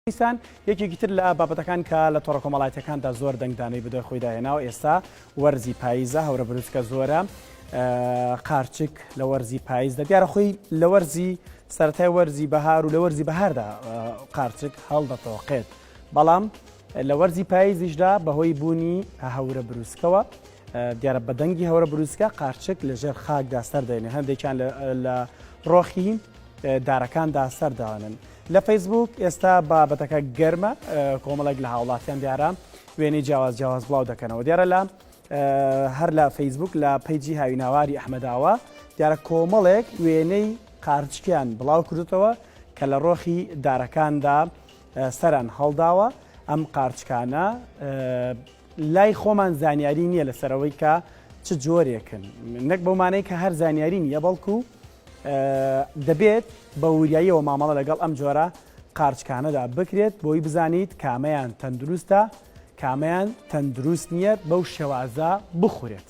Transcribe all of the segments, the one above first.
دیسان یەکێکی تر لە بابەتەکان کە لە تۆڕە کۆمەڵایەتیەکاندا زۆر دەنگدانەی بەدوای خۆی داهێناوە ئێستا وەرزی پاییزە هەورە بروسکە زۆرە قارچک لە وەرزی پاییزدا دیارە خۆی لە وەرزی سەتای وەرزی بەهار و لە وەرزی بەهاردا قارچک هەڵدەتەوەقێت بەڵام لە وەرزی پاییزیشدا بەهۆی بوونی هەورە بروسکەوە دیارە بە دەنگی هەورە بروسکە قارچک لە ژێر خاکدا سەردێنێ هەندێکیان لە ڕۆخی دارەکاندا سەردانن لە فەیسبوک ئێستا بابەتەکە گەرمە کۆمەڵێک لە هاوڵاتیان دیارە وێنەی جیاواز جیاواز بڵاو دەکەنەوە دیارە لە هەر لە فەیسبوک لە پەیجی هاویناواری ئەحمەداوە دیارە کۆمەڵێک وێنەی قارچکیان بڵاو کردوتەوە کە لە ڕۆخی دارەکاندا سەران هەڵداوە ئەم قارچکانە لای خۆمان زانیاری نییە لەسەر ئەوەی کە چ جۆرێکن، نەک بەو مانای کە هەر زانیاری نییە، بەڵکو دەبێت بە وریاییەوە مامەڵە لەگەڵ ئەم جۆرە قارچکانەدا بکرێت بۆی بزانیت کامەیان تەندروستە کامەیان تەندروست نییە بەو شێوازە بخورێت.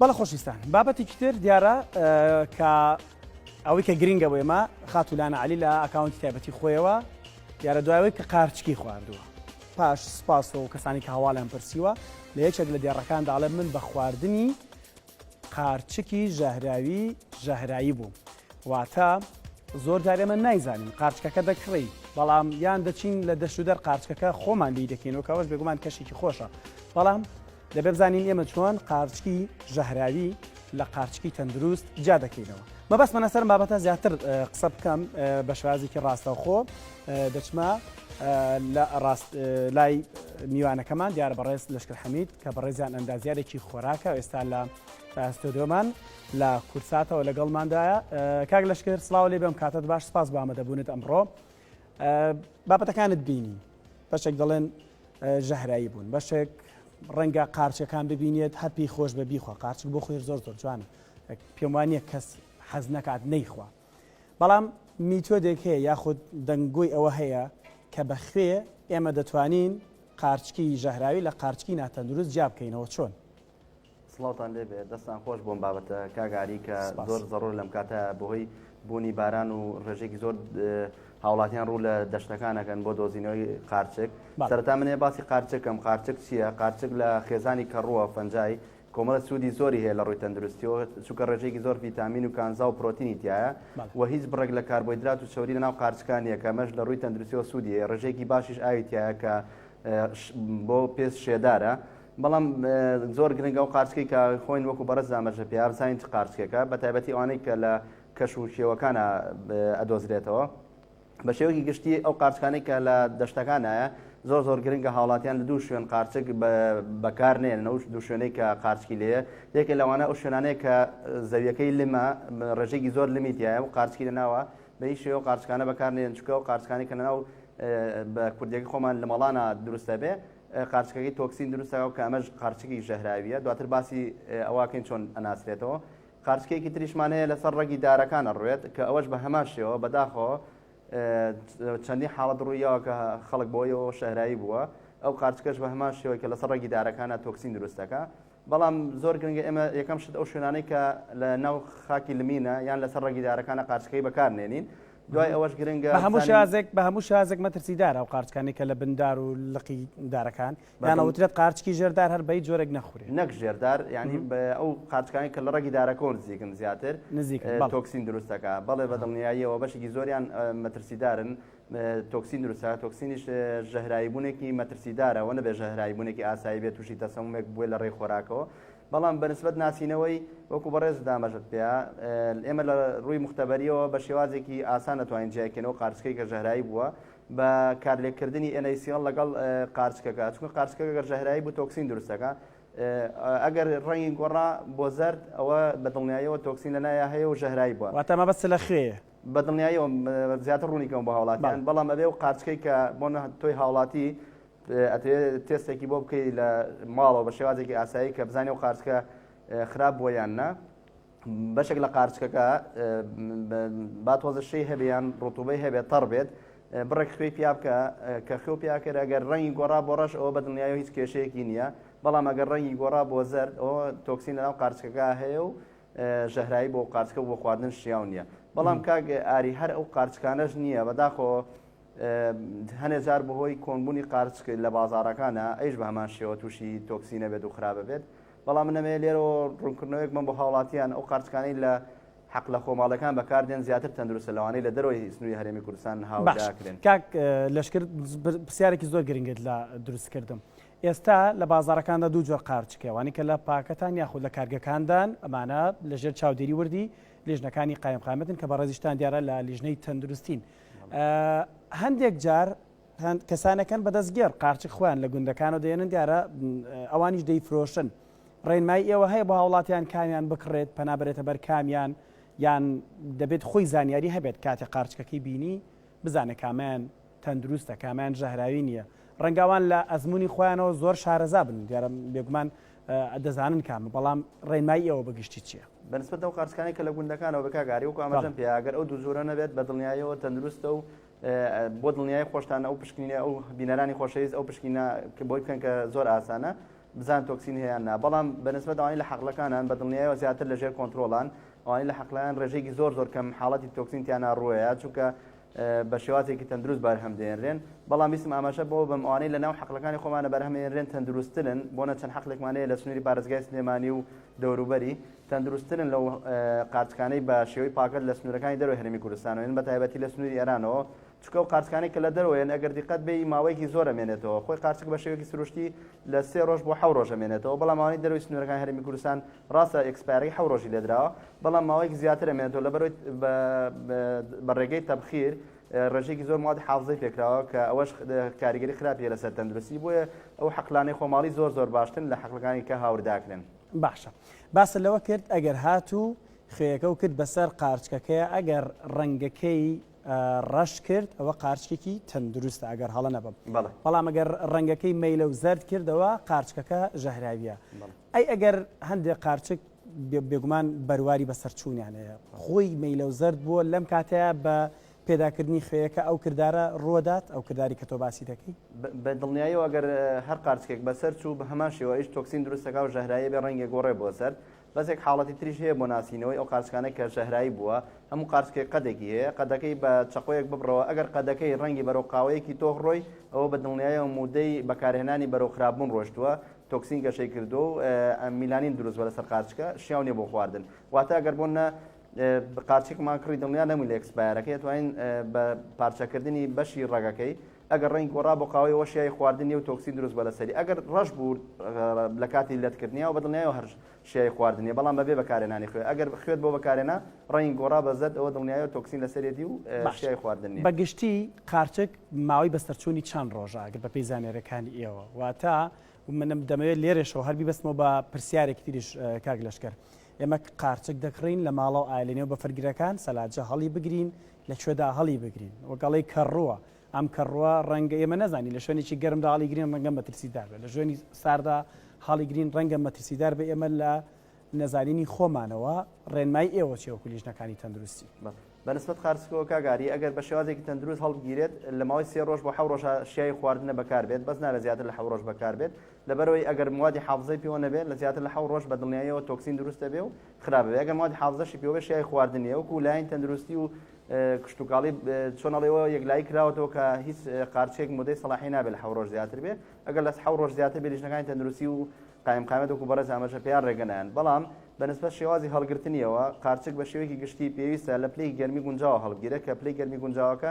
بەڵە خۆشیستان بابەتێکی تر دیارە کە ئەوەی کە گرنگە بۆ ئێمە خاتولانە علی لە ئەکاونتی تایبەتی خۆیەوە دیارە دوایەوەی کە قارچکی خواردووە پاش سپاس و کەسانی کە هەواڵیان پرسیوە لە یەکێک لە دێڕەکان داڵێ من بە خواردنی قارچکی ژەهراوی ژەهرایی بوو واتە زۆر جارێمە نایزانین قارچکەکە دەکڕی بەڵام یان دەچین لە دەشودەر قارچکەکە خۆمان لی دەکەینەوە کەەوەش بێگومان کەشێکی خۆشە بەڵام دەبێ بزانین ئێمە چۆن قارچکی ژەهراوی لە قارچکی تەندروست جیا دەکەینەوە مەبەستمە لەسەر بابەتە زیاتر قسە بکەم بە شازێکی ڕاستەوخۆ دەچمە لە ڕاست لای میوانەکەمان دیارە بەڕێز لەشکر حەمید کە بەڕێزیان ئەندازیارێکی خۆراکە ئێستا لە ئەستۆدۆمان لە کورساتەوە لەگەڵماندایە کاک لەشکر سلااو لێ بم کاتت باش سپاس بامە دەبوونت ئەمڕۆ بابەتەکانت بینی بەشێک دەڵێن ژەهراوی بوون بەشێک ڕەنگە قارچەکان ببینێت هەر پێی خۆش بە بیخوا قارچک بۆ خۆێر زۆر زۆر جوانە پێم وانە کەس حەز نکات نەیخوا بەڵام میتۆدێک هەیە یاخود دەنگۆی ئەوە هەیە کە بە خوێ ئێمە دەتوانین قارچکی ژەهراوی لە قارچکی ناتەندروست جیا بکەینەوە چۆن سڵاوتان لێبێ دەستان خۆش بۆم بابەتە کاگاری کە زۆر زەڕۆر لەم کاتە بەهۆی بوونی باران و ڕێژێکی زۆر هاوڵاتیان ڕوو لە دەشتەکانەکەن بۆ دۆزینەوەی قارچک سەرتا منێ باسی قارچەکەم قارچک چییە قارچک لە خێزانی کەڕووە فەنجای کۆمەڵە سوودی زۆری هەیە لە ڕووی تەندروستیەوە چونکە ڕێژێکی زۆر ڤیتامین و کانزا و پرۆتینی تایە و هیچ بڕێک لە کاربۆیدرات و چوری لەناو قارچکان یە کەمەش لە ڕووی تەندروستیەوە سوودیە ڕێژێکی باشیش ئاوی تایە کە بۆ پێست شێدارە بەڵام زۆر گرنگە ئەو قارچکەی کە خۆین وەکو بەڕێز دامەرژە پێیان زانین چ قارچکێکە بە تایبەتی ئەوانەی کە لە کەش و شێوەکانە ئەدۆزرێتەوە بە شێوەکی گشتی ئەو قارچکانەی کە لە دەشتەکانایە زۆر زۆر گرنگە هاوڵاتیان لە دوو شوێن قارچک بەکار نێن نەوش دوو شوێنەی کە قارچکی لێە یەکە لەوانە ئەو شوێنانەیە کە زەویەکەی لمە ڕێژێکی زۆر لمیتیایە و قارچکی لە ناوە بە هیچ شێوە قارچکانە بەکار نێن چکە و قارچکانی کە لە ناو بە کوردێکی خۆمان لە مەڵانە دروستە بێ قارچکەکەی تۆکسین دروست دەکات کە ئەمەش قارچکی ژەهراویە دواتر باسی ئەوەکەین چۆن ئەناسرێتەوە قارچکێکی تریشمان هەیە لەسەر ڕەگی دارەکان ئەڕوێت کە ئەوەش بە هەمان شێوە بەداخۆ چەندی حاڵەت ڕوویەوە کە خەڵک بۆیەوە شەهرایی بووە ئەو قارچکەش بە هەمان شێوەی کە لەسەر ڕەگی دارەکانە تۆکسین دروستەکە بەڵام زۆر گرنگە ئێمە یەکەم شت ئەو شوێنانەی کە لە ناو خاکی لمینە یان لەسەر ڕەگی دارەکانە قارچکەی بەکارنێنین دوای ئەوەش گرنگە بە هەموو شازێک بە هەموو شازێک مەترسیدارە و قارچکانی کە لە بندار و لقی دارەکان یانەوترێت قارچکی ژێردار هەر بەی جۆرێک نەخورێت نەک ژێردار ینی ئەو قارچکانی کە لە ڕەگی دارەکەەوە نزیکن زیاتر نزیک تۆکسین دروستەکە بەڵێ بە دڵنیاییەوە بەشێکی زۆریان مەترسیدارن تۆکسین دروستە تۆکسینیش ژەهراییبوونێکی مەترسیدارە وە نەبێ ژەهراییبوونێکی ئاسایی بێت تووشی تەسەمومێک بووە لە ڕێی خۆراکەوە بەڵام بەنسبت ناسینەوەی وەکو بەڕێز دامەژت پێ ئێمە لە ڕووی مختبەریەوە بە شێوازێکی ئاسان نتوانین جیاکەنەوە قارچکەی کە ژەهرایی بووە بە کارلێکردنی ئەنەیسیڵ لەگەڵ قارچکەکە چون قارچکەکە گەر ژەهرایی بوو تۆکسین دروستەکە ئەگەر ڕەنگی گۆڕا بۆ زرد ئەوە بە دڵنیایەوە تۆکسین لە نایە هەیە و ژەهرایی بووە واتە مەبەست لە خوێیە بە دڵنیایەوە زیاتر ڕوونی کەم بۆ هاوڵاتیان بەڵام ئەبێ و قارچکەی کە بۆ تۆی هاوڵاتی ئەتێ تێستێکی بۆ بکەی لە ماڵەوە بە شێوازێکی ئاسایی کە بزانێ و قارچکە خراپ بۆ یان نا بەشێک لە قارچکەکە با تۆزشەی هەبیان ڕوتوبەی هەبێت تەڕ بێت بڕێک خوێ پیا بکە کە خوێ پیاکرد ئەگەر ڕەنگی گۆڕا بۆ ڕەش ئەوە بە دڵنیایەوە هیچ کێشەیەکی نییە بەڵام ئەگەر ڕەنگی گۆڕا بۆ زەرد ئەوە تۆکسین لەناو قارچکەکە هەیە و ژەهراوی بۆ قارچکە و بۆ خواردن شیاو نییە بەڵام کاک ئاری هەر ئەو قارچکانەش نییە بەداخۆ هەنێ جار بەهۆی کۆنبوونی قارچک لە بازارەکانە ئەیش بە هەمان شێوە تووشی تۆکسی نەبێت و خراپە بێت بەڵام منەمەیە لێرەوە ڕوونکردنەوەیەک من بۆ هاوڵاتیان ئەو قارچکانی لە حق لە خۆماڵەکان بەکاردێن زیاتر تەندروستە لەوانەی لە دەرەوەی سنووری هەرێمی کوردستان هاوکرێن کاک لەشکر پرسیارێکی زۆر گرنگت لە دروستکردم ئێستا لە بازاڕەکاندا دوو جۆر قارچک هەیە، ئەوانەی کە لە پاکەتان یاخود لە کارگەکاندان، ئەمانە لە ژێر چاودێری وردی لیژنەکانی قایمقامیەتن کە بەڕێزیشتان دیارە لە لیژنەی تەندروستین. هەندێک جار کەسانەکەن بە دەستگێڕ قارچک خۆیان لە گوندەکانەوە دێنن دیارە ئەوانیش دەیفرۆشن. ڕێنمای ئێوە هەیە بۆ هاوڵاتیان کامیان بکڕێت پەنابرێتە بەر کامیان یان دەبێت خۆی زانیاری هەبێت کاتێ قارچکەکەی بینی بزانێت کامیان تەندروستە کامەیان ژەهراوی نیە ڕەنگە ئەوان لە ئەزمونی خۆیانەوە زۆر شارەزا بن دیارە بێگومان دەزانن کامە بەڵام ڕێنمایی ئێوە بەگشتی چیە؟ بەنسبەت ئەو قارچکانەی کە لە گوندەکانەوە بە کاک ئاری وەکو ئاماژەم پێ ئەگەر ئەو دوو جۆرە نەبێت بە دڵنیاییەوە تەندروستە و بۆ دڵنیای خۆشتان ئەو پشکنینە ئەو بینەرانی خۆشەویست ئەو پشکینە کە بۆی بکەن کە زۆر ئاسانە بزان تۆکسین هەیە نا بەڵام بەنسبەت ئەوانی لە حەقلەکانان بە دڵنیایەوە زیاتر لەژێر کۆنتترۆڵان ئەوانی لە حەقلەیان ڕێژێکی زۆر زۆر کەم حاڵەتی تۆکسینتیانە ڕوەیە چونکە بە شێوازێکی تەندروست بەرهەم دێنرێن، بەڵام ویستم ئاماژە بەوە بەم ئەوانەی لە ناو حەقلەکانی خۆمانە بەرهەم ئێنرێن تەندروستترن، بۆنە چەند حەقلێکمان هەیە لە سنووری پارێزگای سلێمانی و دەوروبەری، تەندروستترن لەو قارچکانەی بە شێوەی پاکەت لە سنوورەکانی دەرەوەی هەرێمی کوردستانەوە ئێن، بە تایبەتی لە سنووری ئێرانەوە، چونکە ئەو قارچکانەی کە لە دەرەوە ئێن ئەگەر دیقەت بێ ی ماوەیەکی زۆر ئەمێنێتەوە، خۆی قارچک بە شێوەیەکی سروشتی لە سێ ڕۆژ بۆ حەو ڕۆژ ئەمێنێتەوە، بەڵام ئەوانەی دەرەوەی سنوورەکانی هەرێمی کوردستان ڕاستە ئێکسپایەری حەو ڕۆژی لێدراوە بەڵام ماوەیەکی زیاتر ئەمێنێتەوە لەبەرەوەی بە ڕێگەی تەبخیر ڕێژێکی زۆر موادی حافزەی پێکراوە کە ئەوەش کاریگەری خراپیە لەسەر تەندروستی بۆیە ئەو حەقلانەی خۆماڵی زۆر زۆر باشتن لە حەقلەکانی کە هاورداکرێن باشە باسە لەوە کرد ئەگەر هاتوو خوێەکە و کرد بەسەر قارچکەکەی ئەگەر ڕەنگەکەی ڕەش کرد ئەوە قارچکێکی تەندروستە ئەگەر هەڵە نەبم بەڵام ئەگەر ڕەنگەکەی مەیلە و زرد کردەوە قارچکەکە ژەهراویە ئەی ئەگەر هەندێ قارچک بێگومان بەرواری بەسەرچوونیان هەیە. خۆی مەیلەو زەرد بووە لەم کاتەیا بە پێداکردنی خوێیەکە ئەو کردارە ڕووەدات، ئەو کرداری کە تۆ باسی دەکەی. بە دڵنیایەوە ئەگەر هەر قارچکێک بەسەر چوو بە هەمان شێوە ئەویش تۆکسین دروست دەکا و ژەهراویە بێ ڕەنگێ گۆڕێ بۆ زەرد. بەس یەک حاڵەتی تریش هەیە بۆ ناسینەوەی ئەو قارچکانەی کە ژەهراوی بووە، هەموو قارچکێک قەدێکی هەیە، قەدەکەی بە چەقۆیەک ببڕەوە ئەگەر قەدەکەی ڕەنگی بەرەو قاوەیەکی تۆخ ڕۆی ئەوە بە دڵنیایەوە مودەی بەکارهێنانی بەرەو خراپبوون ڕۆشتووە تۆکسین گەشەی کردووە و میلانین دروست بە لەسەر قارچکە شیاو نیە بۆ خواردن واتە گەر بۆن نە قارچێکمان کڕی دڵنیا نەمووی لە ئەکسپایرەکەی توانین بە پارچەکردنی بەشی ڕەگەکەی ئەگەر ڕنگ گۆڕا بۆ قاوەی وەشیای خواردنی و تۆکسی دروست بە لەسەری ئەگەر ڕەش بوو لە کاتی لەتکردنیەوە بەدڵنیایەوە هەرش چیای خواردن نیە بەڵام بەبێ بەکارهێنانی خوێ ئەگەر خوێت بۆ بەکارهێنا ڕەنگی گۆڕا بە زەرد ئەوە دڵنیایەوە تۆکسین لەسەرێتی و چیای خواردن نیە. باشە بەگشتی قارچک ماوەی بەسەرچوونی چەند ڕۆژە ئەگەر بەپێی زانیاریەکانی ئێوە واتە من دەمەوێت لێرەشەوە هەر بیبەستمەوە بە پرسیارێکی تریش کاک لەشکەر ئێمە قارچک دەکڕین لە ماڵەوە ئایا لەنێو بەفرگرەکان سەلاجە هەڵی بگرین لەکوێدا هەڵی بگرین وەگەڵی کەڕووە ئەم کەڕووە ڕەنگە ئێمە نەزانین لە شوێنێکی گەرمدا هەڵی گرین ڕەنگە مەترسیدار بێت لە ژوێنی ساردا هەڵی گرین ڕەنگە مەترسیدار بە ئێمە لە نەزانینی خۆمانەوە ڕێنمای ئێوە چێوە کولیژنەکانی تەندروستی بەڵێ بەنسبت قارسکەوە کاگاری ئەگەر بە شێوازێکی تەندروست هەڵبگیرێت لە ماوەی سێ ڕۆژ بۆ حە ڕۆژ شیای خواردنە بەکاربێت بەس نابێت زیاتر لە حە ڕۆژ بەکاربێت لەبەرەوەی ئەگەر موادی حافزەی پێوە نەبێت لە زیاتر لە حە ڕۆژ بە دڵنیاییەوە تۆکسین دروستە بێ و خراپ بێ ئەگەر موادی حافزەشی پێوە بێ شای خواردن نیە وەکو لایەن تەندروستی و کشتتوکاڵی چۆنەڵەوە یەکلایی کراوەتەوە کە هیچ قارچێک مدەی سەڵاحی نابێت حە ڕۆژ زیاتر بێ ئەگەر لەس حە ڕۆژ زیاتر بێ لیژنەکانی تەندروستی و قایم قامەت وکو بەڕێز ئامەژە پێیان ڕێگەنیان بەڵام بەنسبە شێوازی هەڵگرتنیەوە قارچک بە شێوەیەکی گشتی پێویستە لە پلەی گەرمی گونجاوە هەڵگیرە کە پلەی گەرمی گونجاوەکە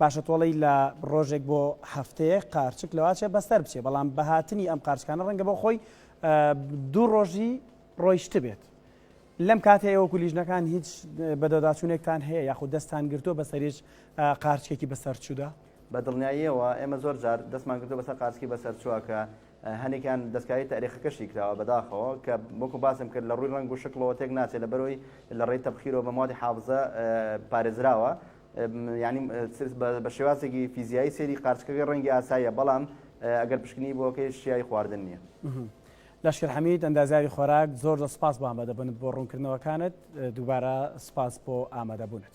باشە تۆڵەی لە ڕۆژێک بۆ هەفتەیەک قارچک لەواچێ بەسەر بچێ بەڵام بە هاتنی ئەم قارچکانە ڕەنگە بۆ خۆی دوو ڕۆژی ڕۆیشتبێت لەم کاتێ ئێوە کولیژنەکان هیچ بەدەداچوونێکتان هەیە یاخود دەستان گرتووە بەسەریش قارچکێکی بەسەر چوودا بە دڵنیاییەوە ئێمە زۆر جار دەستمان گرتو بەسەر قارچکی بەسەر چووە کە هەنێکیان دەستکاری تاریخەکەشی کراوە بەداخەوە کە وەکو باسم کرد لە ڕووی ڕنگ و شکڵەوە تێک ناچێت لە بەرەوەی لە ڕێی تەبخیرەوە بە مادی حافزە پارێزراوە یانی بە شێوازێکی فیزیایی سێری قارچکەکەی ڕەنگی ئاساییە بەڵام ئەگەر پشکنی بۆکەی شیایی خواردن نییە. لەشکر حەمید ئەندازیاری خۆراک زۆر زۆر سپاس بۆ ئامادەبوونت بۆ ڕوونکردنەوەکانت دووبارە سپاس بۆ ئامادەبوونت.